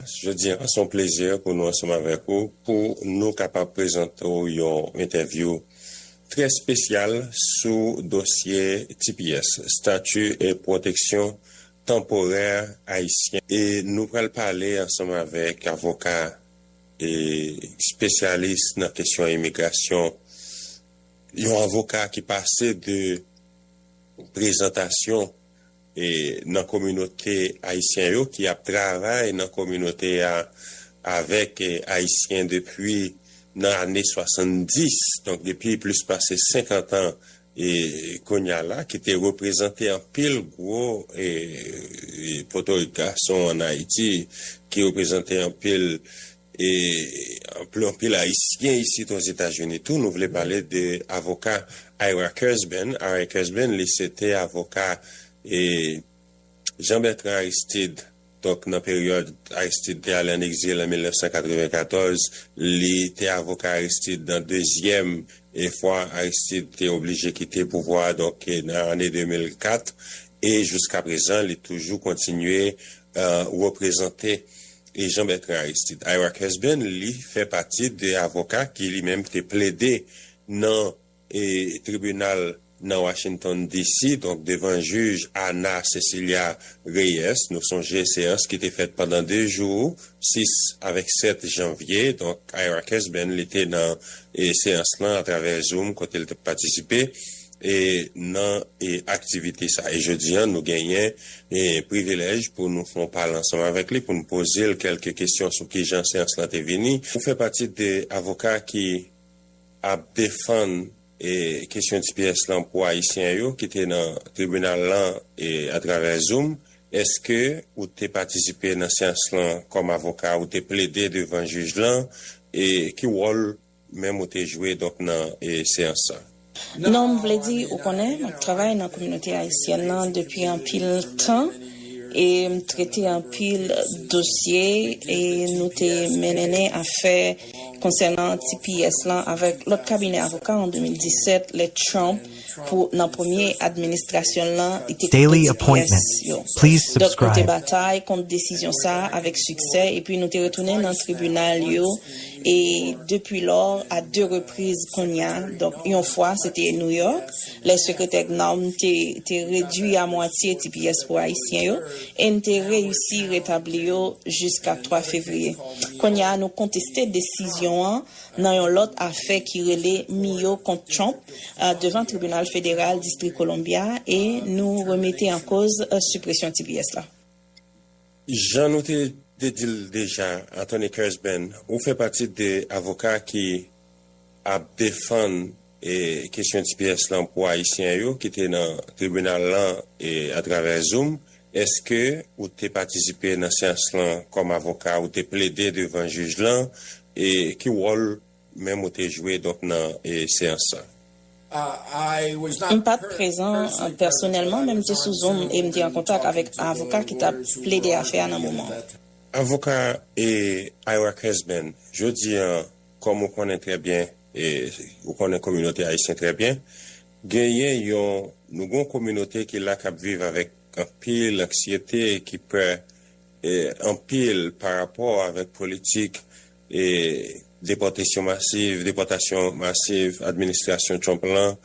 Jodi a, se yon plezi pou nou ansanm avèk ou pou nou kapab prezante w yon entèvyou trè spesyal sou dosye tps, Stati Pwoteksyon Tanporè Ayisyen, e nou pral pale ansanm avèk avoka e spesyalis nan kesyon imigrasyon, yon avoka ki pase de prezantasyon. nan kominote ayisyen yo ki ap travay nan kominote a avèk ayisyen depi nan ane 70, donk depi plis pase 50 an kounye a la, ki te reprezante anpil gwo potorik gason ann Ayiti, ki reprezante anpil. E anpli anpil ayisyen isit ozetazini tou nou vle pale de avoka Ira Kurzban Ira Kurzban li se te avoka e Jean Bertrand Aristide donk nan peryòd Aristide te ale an egzil an 1994 li te avoka Aristide nan dezyèm e fwa Aristide te oblije kite pouvwa a donk nan ane 2004 e jiskaprezan li toujou kontinye reprezante. e Jean Bertrand Aristide. Ira Husband li fè pati de avoka ki li menm te plede nan tribinal nan Washington DC, donk devan jij Ana Cecilia Reyes, nou sonje seyans ki te fèt pandan 2 jou, 6 avèk 7 janvye, donk Ira Husband li te nan seyans lan atravè zoom kote li te patisipe. E nan e aktivite sa e jodi an nou genyen e privilèj pou nou fon pale ansanm avèk li pou nou poze l kèlke kesyon sou kijan seyans lan te vini. Ou fè pati de avoka ki ap defann e kesyon tps lan pou ayisyen yo ki te nan tribinal lan e atravè zoom. Eske ou te patisipe nan seyans lan kòm avoka ou te plede devan jij lan e ki wòl Menm ou te jwe donk nan seyans sa? Non, m vle di, ou konnen, m ap travay nan kominote ayisyèn nan depi anpil tan e m trete anpil dosye e nou te menenen afè konsènan tps lan avèk lòt kabinè avoka an 2017 lè Trump pou nan premye administrasyon l lan li te koupe ti pyès yo. Donk nou te batay kont desizyon sa a avèk siksè epi nou te retounen nan tribinal yo e depi lò a de repriz kounye a donk yon fwa se te New York lè Sekretè Gnawm te redui a mwatye ti pyès pou Ayisyen yo e n te reyisi retabli yo jiska 3 fevriye. Kounye a nou konteste desizyon an nan yon lòt afè ki rele Mio kont Trump. devan Tribinal Federal Distri Columbia e nou remete an koz sipresyon tps la. Jan nou te te di l deja, Attorney Kersben, ou fè pati de avoka ki ap defann kesyon tps lan pou Ayisyen yo ki te nan tribinal lan atravè zoom. Eske ou te patisipe nan seyans lan kòm avoka? Ou te plede devan jij lan? E ki wòl Menm ou te jwe donk nan seyans sa? M pa t prezan pèsonèlman, men m te sou Zoom e m te an kontak avèk avoka ki t ap plede afè a nan moman an. Avoka Ira Kunzman, Jodi a, kòm ou konnen trè byen, ou konnen kominote ayisyen trè byen, genyen yon, nou gen yon kominote ki la k ap viv avèk anpil anksyete, ki pè anpil parapò avèk politik, Depòtesyon masiv, depòtasyon masiv administrasyon Trump lan,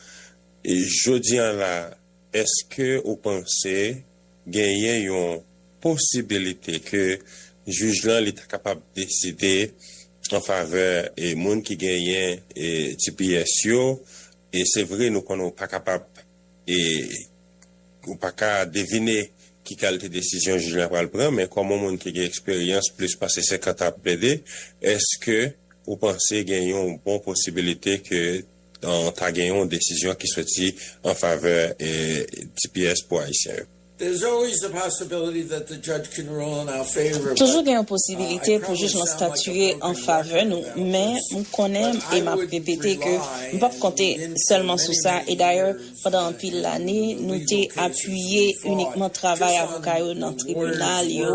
jodi an la eske ou panse genyen yon posibilite ke jij lan li ta kapab deside an favè moun ki genyen tps yo e se vre nou konnen ou pa kapab Ou pa ka devine ki kalte desizyon jij la pral pran, men kòm yon moun ki gen eksperyans plis pase 50 an ap plede, èske ou panse gen yon bon posibilite ke ta gen yon desizyon ki soti an favè tps pou Ayisyen yo? Toujou gen yon posibilite pou jij lan statiye an favè nou, men m konnen e m ap repete ke m p ap konte sèlman sou sa, e dayè, Pandan anpil lane, nou te apiye inikman travay avoka yo nan tribinal yo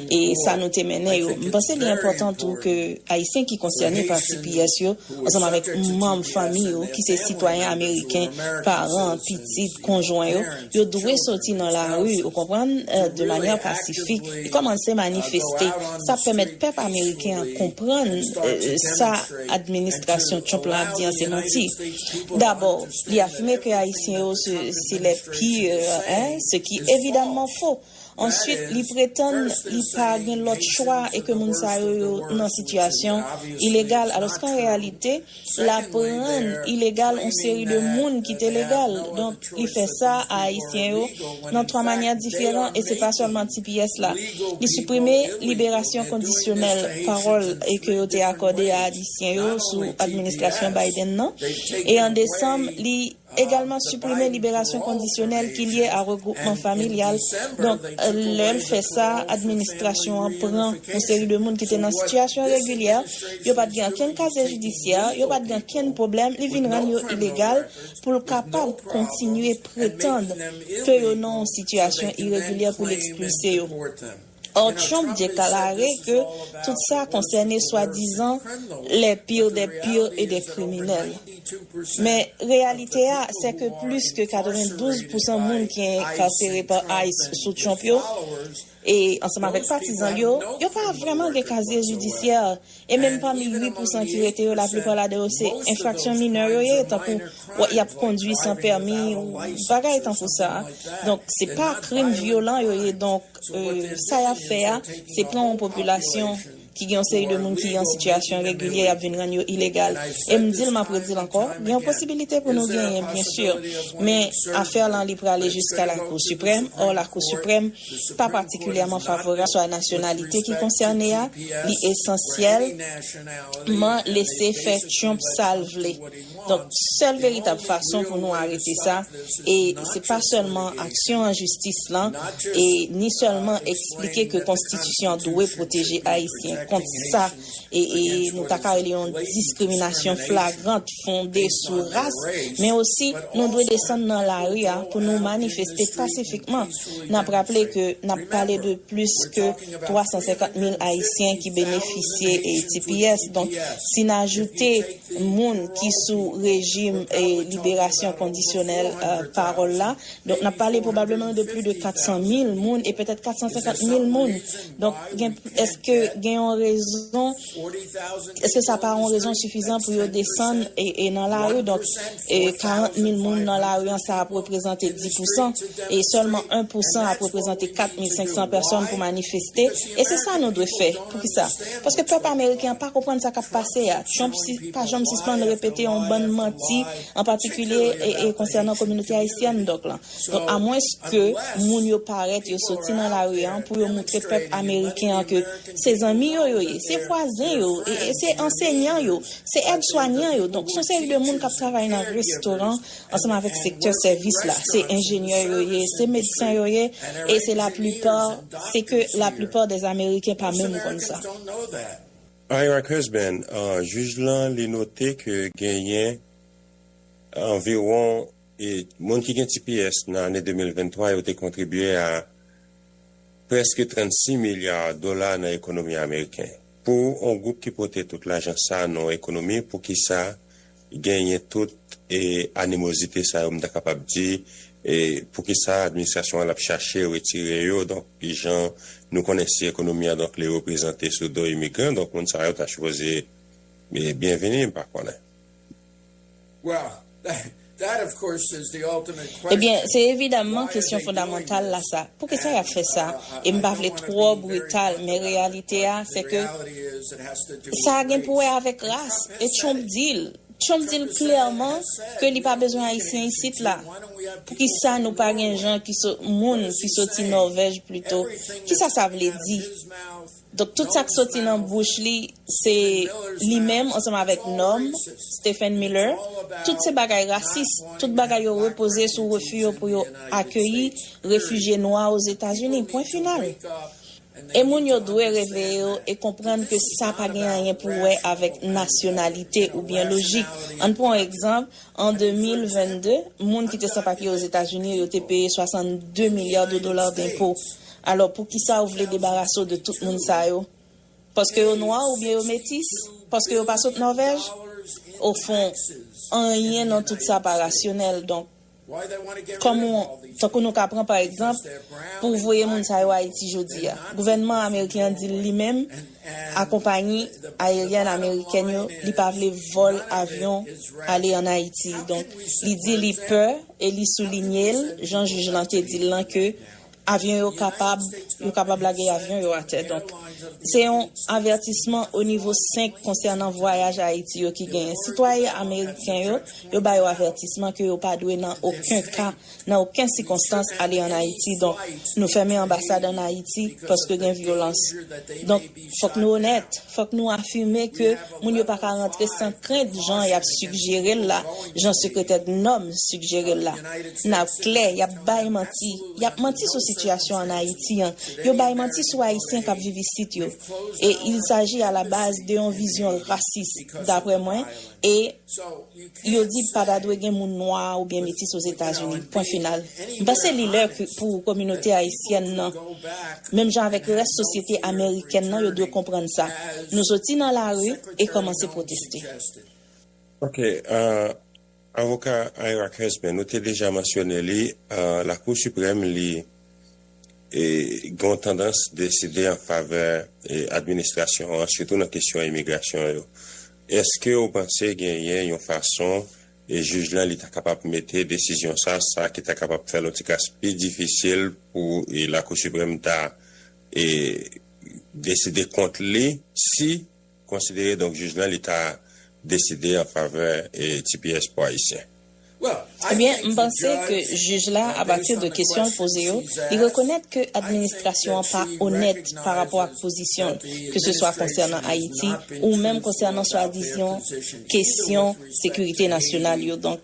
e sa nou te mennen yo. M panse li enpòtan tou ke Ayisyen ki konsène pa tps yo, ansanm avèk manm fanmi yo ki se sitwayen ameriken, paran, pitit, konjwen yo, yo dwe soti nan lari, ou konprann, de manyè pasifik e kòmanse manifeste. Sa ap pèmèt pèp ameriken an konprann sa. administrasyon Trump lan ap di an se manti. Dabò, li afime ke Ayisyen yo se se les pires, hein, ce qui evidamman fo. Answit, li pretann li pa gen lòt chwa e ke moun sa yo yo nan sitiyasyon ilegal, alòske an reyalite, l ap rann ilegal on seri de moun ki te legal. Donk, li fè sa a Ayisyen yo nan twa manyè diferan e se pa sèlman tps la. Li siprime liberasyon kondisyonèl pawòl e ke yo te akòde a Ayisyen yo sou administrasyon Biden nan e an desanm li egalman siprime liberasyon kondisyonèl ki lye a regwoupman familyal donk lè l fè sa administrasyon an pran yon seri de moun ki te nan sitiyasyon regilyè yo pat gen okenn kazye jidisyè yo pat gen okenn pwoblèm li vin rann yo ilegal pou l kapab kontinye pretann ke yo nan yon sitiyasyon iregilyè pou l ekspilse yo. Ò Trump dekalare ke tout sa konsène swadizan le pire des pires et des criminels. Men reyalite a se ke plis ke 92 pousan moun ki enkarsere pa ice sou Trump yo, e ansanm avèk patizan l yo, yo pa vrèman gen kazye jidisyè, e menm pami 8 pousan ki rete yo laplipa ladan yo se enfraksyon minè yo ye, tankou y ap kondwi san pèmi ou bagay tankou sa, donk se pa krim vyolan yo ye, donk sa y ap fè a se pran yon popilasyon. ki gen yon seri de moun ki an sitiyasyon regilyè y ap vin rann yo ilegal e m di l m ap redi l ankò gen yon posibilite pou nou genyen byen sur men afè lan li prale jiska lakou siprèm ò lakou siprèm pa patikilyèman favorab swa nasyonalite ki konsène a li esansyèl man lese fè Trump sa l vle. Donk, sèl veritab fason pou nou arete sa, e se pa sèlman aksyon an jistis lan, e ni sèlman eksplike ke konstitisyon an dwe pwoteje Ayisyen kont sa e nou ta ka rele yon diskriminasyon flagrant fonde sou ras, men osi nou dwe desann nan lari a pou nou manifeste pasifikman. N ap raple ke n ap pale de plis ke. 350 mil ayisyen ki benefisye tps donk si n ajoute moun ki sou rejim liberasyon kondisyonèl pawòl la donk n ap pale pwobableman de pli de 400 mil moun e petèt 450 mil moun donk gen èske gen yon rezon Eske sa pa yon rezon sifizan pou yo desann e nan lari? Donk, 40 mil moun nan lari an, sa ap reprezante 10 pousan, e sèlman 1 pousan ap reprezante 4 mil 500 pèsòn pou manifeste. E se sa nou dwe fè. Poukisa? Paske pèp ameriken an pa konprann sa k ap pase a. Trump pa janm sispann repete yon bann manti, an patikilye konsènan kominote ayisyèn. Donk, amwenske moun yo parèt, yo soti nan lari an pou yo montre pèp ameriken an ke. se zanmi yo yo ye, se vwazen yo, se ansenyan yo, se èdswanyan yo, donk son seri de moun k ap travay nan restoran ansanm avèk sektè sèvis la, se enjenyè yo ye, se medsen yo ye, e se laplipa, se ke laplipa dè ameriken pa menm konn sa. Ira Cusbin, jij lan li note ke genyen anviwon moun ki gen tps nan ane 2023 yo te kontribye a. prèske 36 milya dola nan ekonomi ameriken. Pou on gwoup ki pote tout lajan sa nan on ekonomi poukisa genyen tout animozite sa yo m ta kapab di poukisa administrasyon an l ap chache retire yo donk jan nou konnen si ekonomi an donk li reprezante sou do imigran donk moun sa yo ta sipoze byenvini m pa konnen. Ebyen, se evidamman kesyon fondamantal la sa, poukisa y ap fè sa? E m pa vle twò brital, men reyalite a se ke sa gen pou wè avèk ras. E Trump di l, Trump di l klèman ke li pa bezwen Ayisyen isit la. Poukisa nou pa gen jan ki sot, moun ki soti Nòvèj plito? Kisa sa vle di? Donk tout sa k soti nan bouch li se li menm ansanm avèk nonm, Stephen Miller, tout se bagay rasis, tout bagay yo repoze sou refi yo pou yo akeyi refijye nwa Ozetazini, pwen final. E moun yo dwe reveye yo e konprann ke sa pa gen anyen pou wè avèk nasyonalite oubyen lojik. Ann pran yon egzanp, an 2022, moun ki te san papye Ozetazini yo te peye 62 milya de dola denpo. Alò poukisa ou vle debarase w de tout moun sa yo? Paske yo nwa oubyen yo metis? Paske yo pa sot Nòvèj? Ofon, anyen nan tout sa pa rasyonèl. Donk, kòm ou, tankou nou ka pran pa egzanp, pou w voye moun sa yo Ayiti jodi a. Gouvènman ameriken an di l li menm a konpayi ayeryèn amerikèn yo li pa vle vòl avyon ale ann Ayiti. Donk, li di li pè e li soulinye l, jan jij lan te di l lan, ke Avyon yo kapab, yo kapab lage avyon yo atè. Donk, se yon avètisman o nivo 5 konsènan vwayaj Ayiti yo ki genyen. Sitwayen ameriken yo, yo ba yo avètisman ke yo pa dwe nan oken ka, nan oken sikonstans ale an Ayiti. Donk, nou fèmen anbasad an Ayiti paske gen vyolans. Donk. Fòk nou onèt, fòk nou afime ke moun yo pa ka rantre san krent jan y ap sigjere l la, jan Sekretè GNOM sigjere l la. N ap klè, y ap bay manti. Y ap manti sou sitiyasyon ann Ayiti an. Yo bay manti sou Ayisyen k ap viv isit yo. E il saji a la baz de yon vizyon rasis, daprè mwen, e. Yo di pa ta dwe gen moun nwa oubyen metis Ozetazini. Pwen final. M panse li lè pou kominote ayisyèn nan, menm jan avèk rès sosyete amerikèn nan, yo dwe konprann sa. Nou soti nan lari e kòmanse pwoteste. Ok. Avoka Ira Kunzman, nou te deja mansyone li, Lakou Siprèm li gen yon tandans deside an favè administrasyon an, sitou nan kesyon imigrasyon yo. Eske ou panse genyen yon fason jij lan li ta kapab mete desizyon sa sa ki ta kapab fè l on ti kas pi difisil pou Lakou Siprèm ta deside kont li si konsidere donk jij lan li ta deside an favè tipiyès pou Ayisyen? Ebyen, m panse ke jij la, apati de kesyon l poze yo, li rekonèt ke administrasyon an pa onèt pa rapò ak pozisyon l, keseswa konsènan Ayiti ou menm konsènan swadizan kesyon sekirite nasyonal yo. Donk,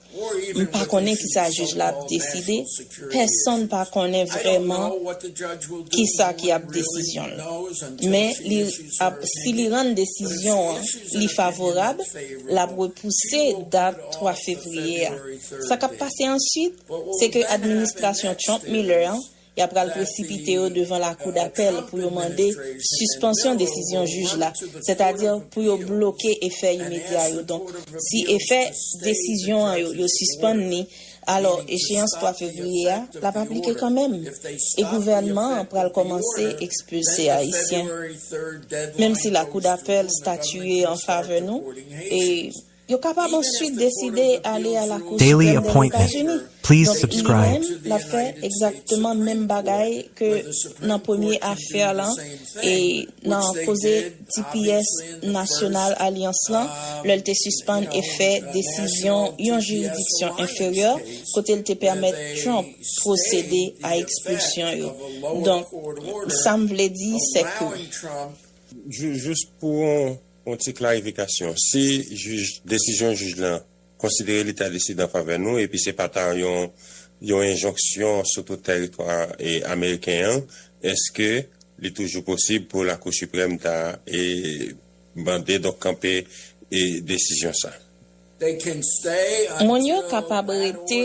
m pa konnen kisa jij la ap deside. pèsonn pa konnen vrèman ki sa ki ap desizyon l. Men li ap si li rann desizyon an li favorab, l ap repouse dat 3 fevriye a. Sa k ap pase answit, se ke administrasyon Trump-Miller an ya pral presipite yo devan lakou dapèl pou yo mande sispansyon desizyon jij la, sètadi pou yo bloke efè imedya yo. Donk, si efè desizyon an yo, yo sispann li, Alò, echeyans 3 fevriye a, l ap aplike kanmenm, e gouvènman an pral kòmanse ekspilse Ayisyen, menm si lakou dapèl statiye an favè nou, e yo kapab answit deside ale a lakou siprèm dèzetazini. Donk, li menm, l ap fè egzakteman menm bagay ke nan premye afè lan e nan koze. tps, nasyonal alyans lan lè l te sispann efè desizyon yon jiridiksyon enferyè kote l te pèmèt Trump pwosede a ekspilsyon yo. Donk, sa m vle di sè ke. Jis pou yon ti klarifikasyon, si desizyon jij lan. konsidere li ta deside an favè nou epi se pa ta yon yon enjonksyon sou tout tèritwa ameriken an, èske li toujou posib pou Lakou Siprèm ta mande, donk kanpe desizyon sa? Moun yo kapab rete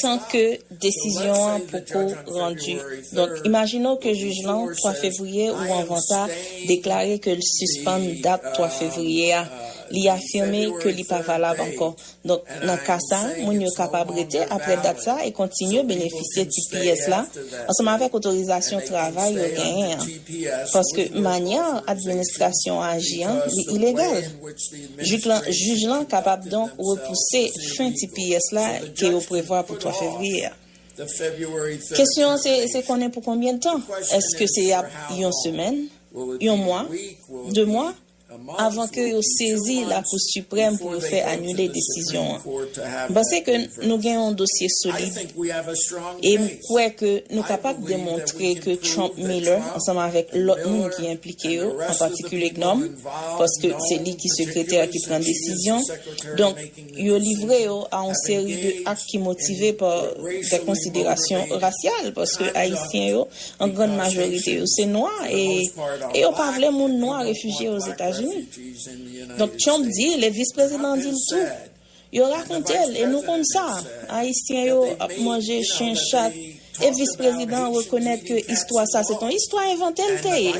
tan ke desizyon an poko randi. Donk, imajine w ke jij lan, 3 fevriye ou anvan sa, deklare ke l sispann dat 3 fevriye a. li afime ke li pa valab ankò. Donk, nan ka sa, moun yo kapab rete apre dat sa e kontinye benefisye tps la ansanm avèk otorizasyon travay yo genyen an, paske manyè administrasyon an aji an, li ilegal. Jik lan, jij lan kapab donk repouse fen tps la ke yo prevwa pou 3 fevriye a. Kesyon an se, se konnen pou konbyen tan? Èske se ap yon semèn? Yon mwa? De mwa? avan ke yo sezi la kou siprèm pou yo fè anile desizyon an. M panse ke nou gen yon dosye solid e m kwè ke nou kapab demontre ke Trump Miller ansanm avèk lòt moun ki enplike yo, an patikilye GNOM, paske se li ki sekretè ki pran desizyon, donk, yo livre yo a yon seri de ak ki motive pa dè konsiderasyon rasyal, paske Ayisyen yo, an grann majorite yo, se nwa e e yo pa vle moun nwa refijye Ozetazini. Donk Trump di l e Vis Prezidan an di l tou. Yo rakonte l e nou konn sa, Ayisyen yo ap manje chen, chat. E vis prezidan an rekonèt ke istwa sa se te yon istwa envante li te ye.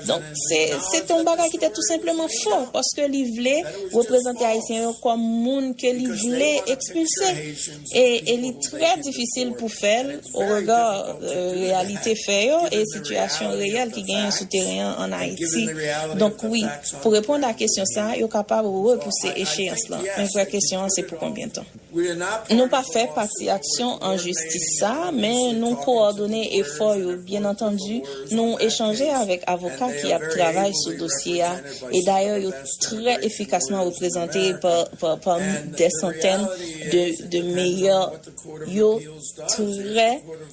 Donk, se te yon bagay ki te tou senpleman fo, paske li vle reprezante Ayisyen yo kòm moun ke li vle ekspilse. E li trè difisil pou fè l o rega reyalite fè yo e sitiyasyon reyèl ki genyen sou teren an ann Ayiti. Donk wi, pou reponn a kesyon sa, yo kapab repouse echeyans lan. Men vrè kesyon an se pou konbyen tan. Nou pa fè pati aksyon an jistis sa a, men nou kowòdone efò yo. Byennantandi, nou echanje avèk avoka ki ap travay sou dosye a, e dayè yo trè efikasman reprezante pa dè santèn de meyè yo trè.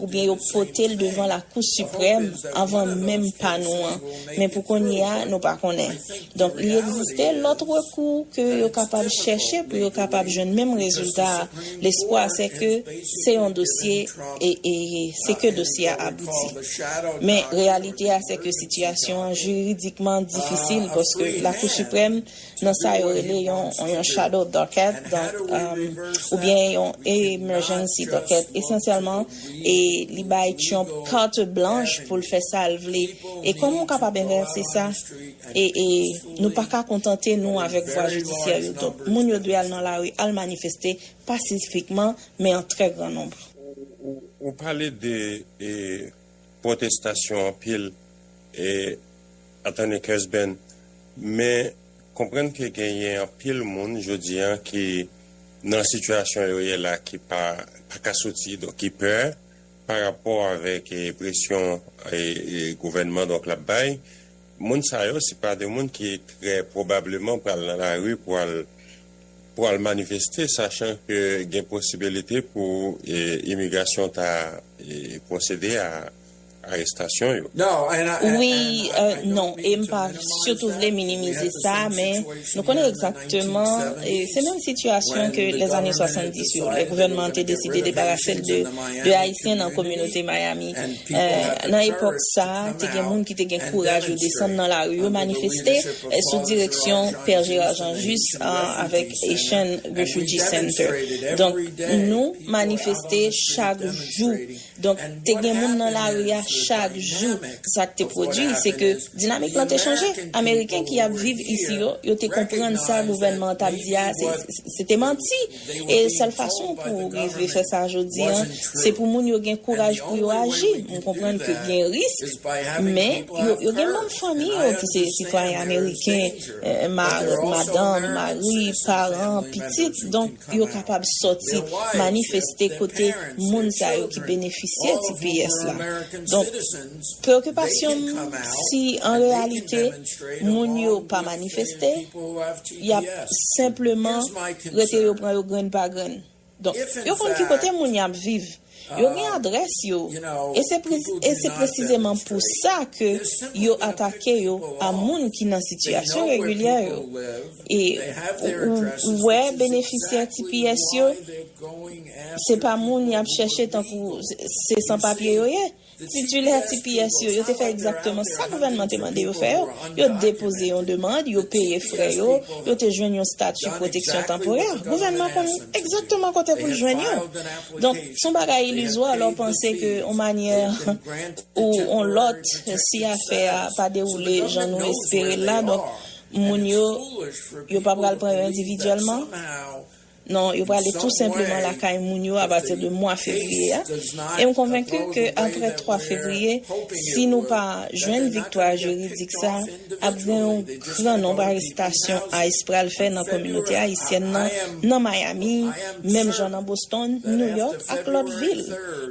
oubyen yo pote l devan lakou siprèm anvan menm pa nou an, men pou kounye a nou pa konnen. Donk li egziste lòt rekou ke yo kapab chèche pou yo kapab jwenn menm rezilta a, lespwa se ke se yon dosye e se ke dosye a abouti. Men reyalite a se ke sitiyasyon an jiridikman difisil paske lakou siprèm nan sa yo rele yon shadow docket oubyen yon emergency docket esansyèlman li bay Trump carte blanche pou l fè sa l vle e kòman w kapab envèse sa e nou pa ka kontante nou avèk vwa jidisyè yo donk moun yo dwe al nan lari al manifeste pasifikman men an trè gran nonb. Ou pale de. pwotestasyon anpil e attorney Cusben men konprann ke genyen anpil moun jodi an ki nan sitiyasyon yo ye la ki pa pa ka soti donk ki pè pa rapò avèk presyon gouvènman donk lap bay moun sa yo se pa de moun ki trè pwobableman pral nan lari pou al pwal manifeste sachan ke gen posibilite pou imigrasyon ta pwosede a arestasyon yo. Wi, non, e m pa sitou vle minimize sa, men nou konnen egzakteman se menm sitiyasyon ke lè ane 70 yo, lè gouvènman an te deside debarase l de Ayisyen nan kominote Miami. Nan epòk sa, te gen moun ki te gen kouraj yo desann nan lari yo manifeste. sou direksyon Pè Gérard Jean-Juste avèk Haitian Refugee Center. Donk, nou manifeste chak jou. Donk, te gen moun nan lari a chak jou. Sa k te pwodui, se ke dinamik lan te chanje. Ameriken ki ap viv isi yo, yo te konprann sa gouvènman an t ap di a, se te manti. E sèl fason pou ou rive fè sa jodi an, se pou moun yo gen kouraj pou yo aji. M konprann ke gen risk, men, yo gen manm fanmi yo ki se sitwayen ameriken, mari, madanm, mari, paran, pitit, donk yo kapab sòti manifeste kote moun sa yo ki benefisye tps la. Donk. Preokipasyon m si an reyalite moun yo pa manifeste, y ap senpleman rete yo pran yo grenn pa grenn. Donk, yo konn ki kote moun y ap viv, yo gen adrès yo e se e se presizeman pou sa ke yo atake yo a moun ki nan sitiyasyon regilyè yo. E ou wè benefisyè tps yo se pa moun y ap chèche tankou se san papye yo ye. Titulè tps yo, yo te fè egzakteman sa gouvènman te mande yo fè yo, yo depoze yon demand, yo peye frè yo, yo te jwenn yon stati pwoteksyon tanporè. Gouvènman konn egzakteman kote pou l jwenn yo. Donk, s on bagay ilizwa lè w panse ke on manyè ou on lòt, si afè a pa dewoule jan nou espere l la, donk moun yo, yo pa pral pran yo endividyèlman. Non, yo prale tou senpleman lakay moun yo apati de mwa fevriye a, e m konvenki ke apre 3 fevriye, si nou pa jwenn viktwa jiridik sa, ap gen yon gran nonb arestasyon ice pral fè nan kominote ayisyèn nan, nan Miami, menm jan nan Boston, New York ak lòt vil.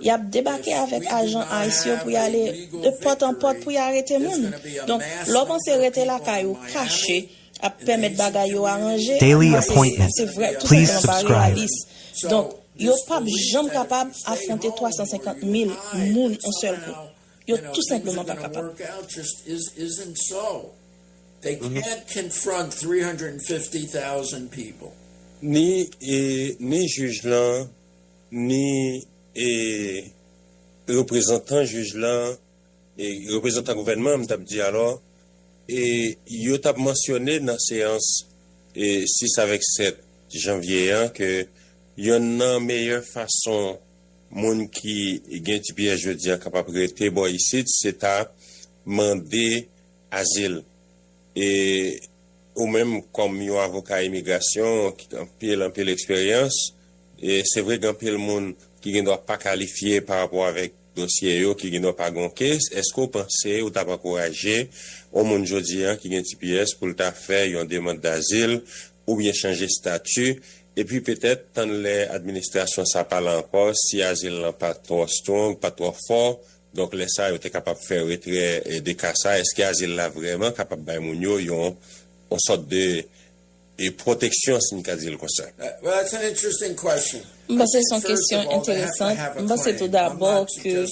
Y ap debake avèk ajan ice yo pou y ale de pòt an pòt pou y arete moun. Donk, lè w panse rete lakay ou kache, ap pèmèt bagay yo aranje Daily appointment se vrè tou Please senpleman bare la subscribe. lis donk yo pap janm kapab afwonte 350 mil moun on sèl kou yo tou senpleman pa kapab. Ni e ni jij lan ni e reprezantan jij lan reprezantan gouvènman an m t ap di alò e yo t ap mansyone nan seyans 6 avèk 7 janvye an ke yonn nan meyè fason moun ki gen tps jodi a kapab rete bò isit se ta mande azil e ou menm kòm yon avoka imigrasyon ki gen anpil anpil eksperyans e se vre gen anpil moun ki gen dwa pa kalifye parapò avèk Dosye yo ki gen non pa gon case, eske w panse ou tap ankouraje on moun jodi an ki gen tps pou l ta fè yon demand dazil oubyen chanje stati epi petèt tann lè administrasyon sa pa la ankò si azil lan pa twò strong, pa twò fò donk lè sa yo te kapab fè retrè de ka sa eske azil la vrèman kapab bay moun yo yon on sòt de e pwoteksyon si n ka di l konsa. M panse se yon kesyon enteresan. M panse tou dabò ke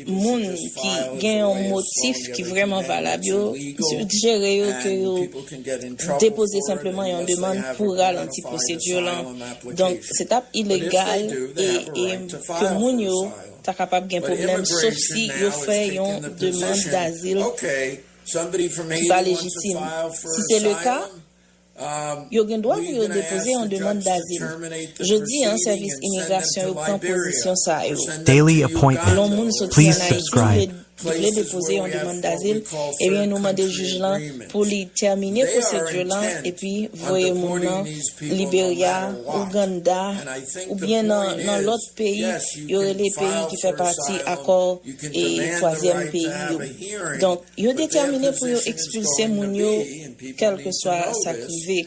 moun ki gen yon motif ki vrèman valab yo sigjere yo ke yo depoze senpleman yon demann pou ralanti pwosedire lan. Donk, se t ap ilegal e ke moun yo ta kapab gen pwoblèm sof si yo fè yon demann dazil ki pa lejitim. Si se leka, Yo gen dwa pou yo depoze yon demann dazil. Jodi an, sèvis imigrasyon yo pran pozisyon sa yo. Daily appointment. Lè yon moun soti ann Ayiti, li vle li vle depoze yon demann dazil, ebyen nou mande jij lan pou li tèmine pwosedure lan epi voye moun nan Liberia, Ouganda oubyen nan nan lòt peyi yo rele peyi ki fè pati akò e twazyèm peyi yo. Donk. Yo detèmine pou yo ekspilse moun yo kèlkeswa sa k rive.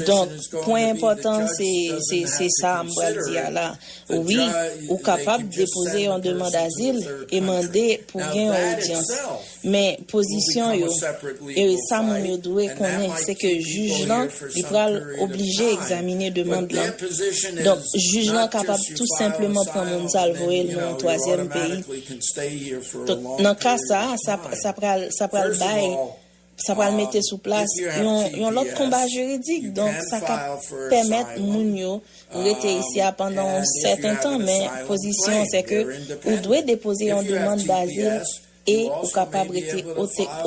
Donk, pwen enpòtan se sa a m pral di a la. Wi, ou kapab depoze yon demand azil e mande pou gen yon odyans. Men, pozisyon yo e sa moun yo dwe konnen se ke jij lan li pral oblije egzamine demand lan. Donk, jij lan kapab tou senpleman pran moun sa l voye l nan yon twazyèm peyi. Donk, nan ka sa a, sa pral, sa pral bay, sa pral mete sou plas yon, yon lòt konba jiridik. Donk, sa ka pèmèt moun yo rete isi a pandan yon sèten tan, men pozisyon an se ke ou dwe depoze yon demann dazil e ou kapab rete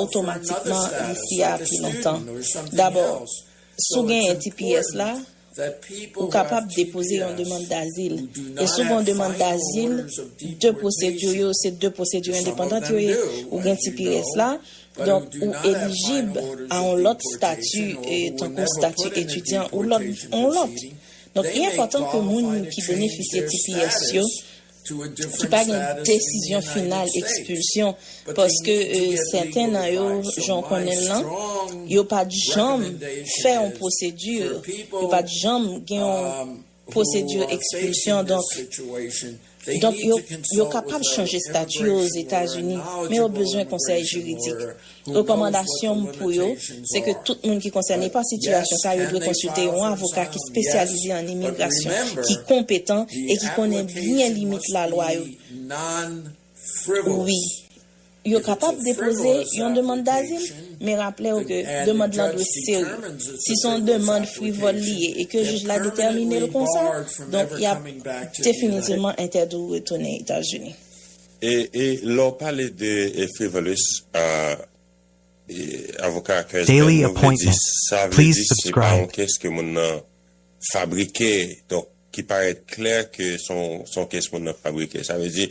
otomatikman isi a pi lontan. Dabò, si w genyen tps la, Ou kapab depoze yon demann dazil. E si w gen yon demann dazil, de pwosedi yo se de pwosedi endepandan yo ye. Ou gen ti pi rès la, donk ou elijib a yon lòt stati tankou stati etidyan ou yon lòt. Donk li enpòtan ke moun ki benefisye ti pi rès yo ki pa gen desizyon final ekspilsyon paske sèten nan yo jan w konnen l lan yo pa t janm fè yon pwosedi yo pa t janm gen yon pwosedi ekspilsyon donk yo kapab chanje stati yo ozetazini men yo bezwen konsèy jiridik Rekòmandasyon m pou yo, se ke tout moun ki konsène pa sitiyasyon sa yo dwe konsilte yon avoka ki spesyalize an imigrasyon, ki konpetan e ki konnen byen limit lalwa yo. Wi, yo kapab depoze yon demand dazil, men raple yo ke demand lan dwe serye. Si se yon demand frivòl li ye e ke jij la detèmine l konsa, donk y ap definitivman entèdi w retounen Etazini. E e lè w pale de frivolous e avoka a kè zèl yo vle di sa vle di se pa yon kès ke moun nan fabrike donk ki parèt klè ke se yon kès moun nan fabrike sa vle di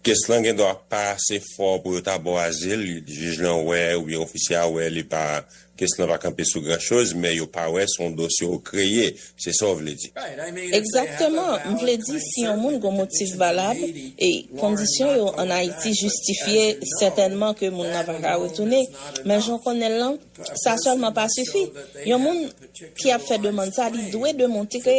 kès lan gendwa pa ase fò pou yo ta ba w azil jij lan wè oubyen ofisye a wè li pa Kes lan pa kanpe sou gran choz men yo pa wè son dosye ou kreye se sa ou vle di. Egzakteman, m vle di si yon moun gon motif valab e kondisyon yo an Ayiti jistifye sètènman ke moun lan pa ka retounen. Men jan w konnen l lan, sa sèlman pa sifi. Yon moun ki ap fè demand sa li dwe demontre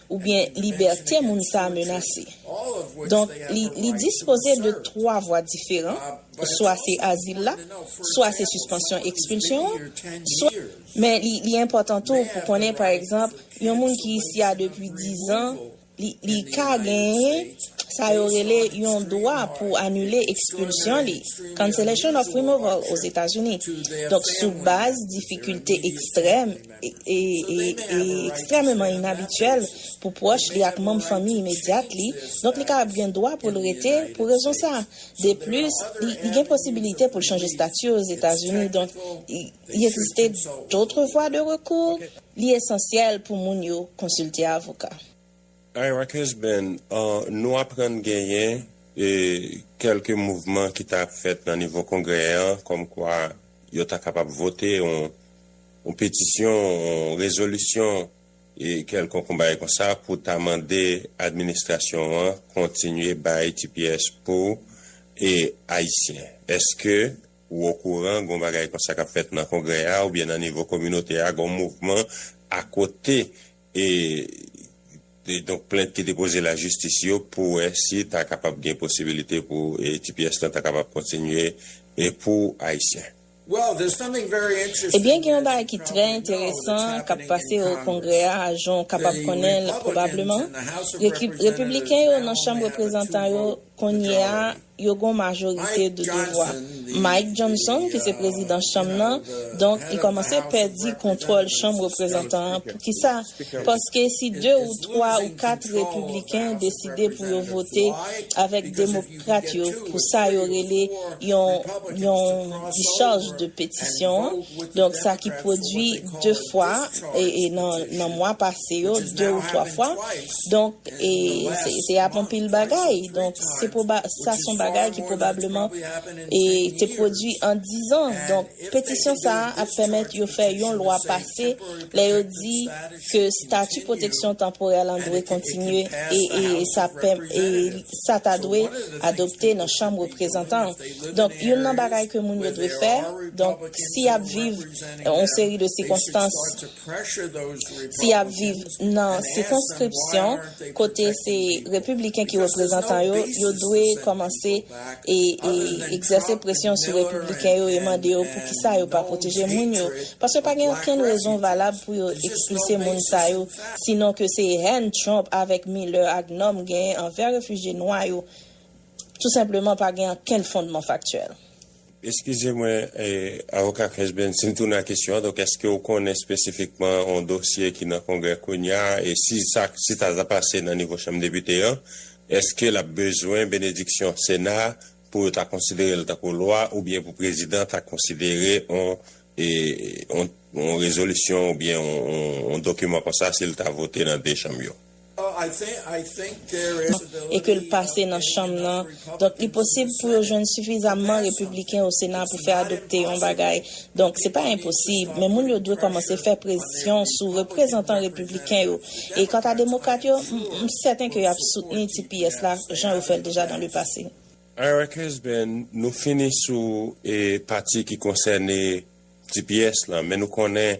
oubyen libète moun sa a menase. Donk, li dispoze de twa vwa diferan, swa se azil la, swa se sispansyon ekspilsyon an, swa. Men, li enpòtan tou pou konnen, pa egzanp, yon moun ki isi a depi dizan, li ka genyen sa yo rele yon dwa pou anile ekspilsyon li, cancellation of removal, Ozetazini. Donk, sou baz difikilte ekstrèm e ekstrèmeman inabityèl pou pwòch li ak manm fanmi imedyat li, donk li ka ap gen dwa pou l rete pou rezon sa. Deplis, li gen posibilite pou l chanje stati Ozetazini, donk il existe d'autres voies de recours, li esansyèl pou moun yo konsilte avoka. Hi Rockers Band, Nou aprann genyen kèlke mouvman ki ta ap fèt nan nivo Kongrè an kòmkwa yo ta kapab vote yon petisyon, yon rezolisyon kèlkonk yon bagay konsa pou ta mande administrasyon an kontinye bay tps pou Ayisyen. Èske ou okouran gen yon bagay konsa k ap fèt nan Kongrè a oubyen nan nivo kominote a gen yon mouvman akote e donk plent ki depoze lajistis yo pou wè si ta kapab gen posibilite pou tps lan ta kapab kontinye pou Ayisyen. Ebyen gen yon bagay ki trè enteresan k ap pase o Kongrè a, jan w kapab konnen l pwobableman. Repibliken yo nan Chanm Reprezantan yo kounye a, yo gon majorite de devwa. Mike Johnson ki se prezidan chanm nan, donk li kòmanse pèdi kontwòl chanm reprezantan an. Poukisa? Paske si de ou twa ou kat repibliken deside pou yo vote avèk demokrat yo pou sa yo rele yon yon discharge de petisyon an, donk sa ki pwodui de fwa nan mwa pase yo, de ou twa fwa, donk. E se ap anpil bagay. Donk, se pwoba, sa son bagay ki pwobableman e te pwodui an dizan. Donk, petisyon sa a ap pèmèt yo fè yon lwa pase lè yo di ke stati pwoteksyon tanporè lan dwe kontinye e e sa ap pè e sa ta dwe adopte nan chanm reprezantan. Donk, youn nan bagay ke moun yo dwe fè, donk, si y ap viv yon seri de sikonstans, Si y ap viv nan sikonskripsyon kote se Repibliken ki reprezantan yo, yo dwe kòmanse egzèse presyon sou Repibliken yo e mande yo poukisa yo pa pwoteje moun yo. Paske pa gen okenn rezon valab pou yo ekspilse moun sa yo, sinon ke se hèn Trump avèk Miller ak Norm genyen anvè refijye nwa yo tou senpleman pa gen okenn fondman faktyèl. Eskize mwen Avoka Kensben, si m tounen ak kesyon an, donk èske ou konnen espesifikman yon dosye ki nan Kongrè kounya a, e si sa si sa ta pase nan nivo Chanm Depite an, èske l ap bezwen benediksyon Sena a pou yo ta konsidere l tankou lwa oubyen pou Prezidan ta konsidere yon e yon rezolisyon oubyen yon dokiman konsa si l ta vote nan 2 chanm yo? e ke l pase nan Chanm nan, donk li posib pou yo jwenn sifizamman Repibliken o Sena pou fè adopte yon bagay. Donk, se pa enposib, men moun yo dwe kòmanse fè presyon sou reprezantan Repibliken yo. E kanta Demokrat yo, m sèten ke y ap soutni tps la, jan yo fè l deja dan le pase. Ira Kesben, Nou fini sou pati ki konsène tps la, men nou konnen,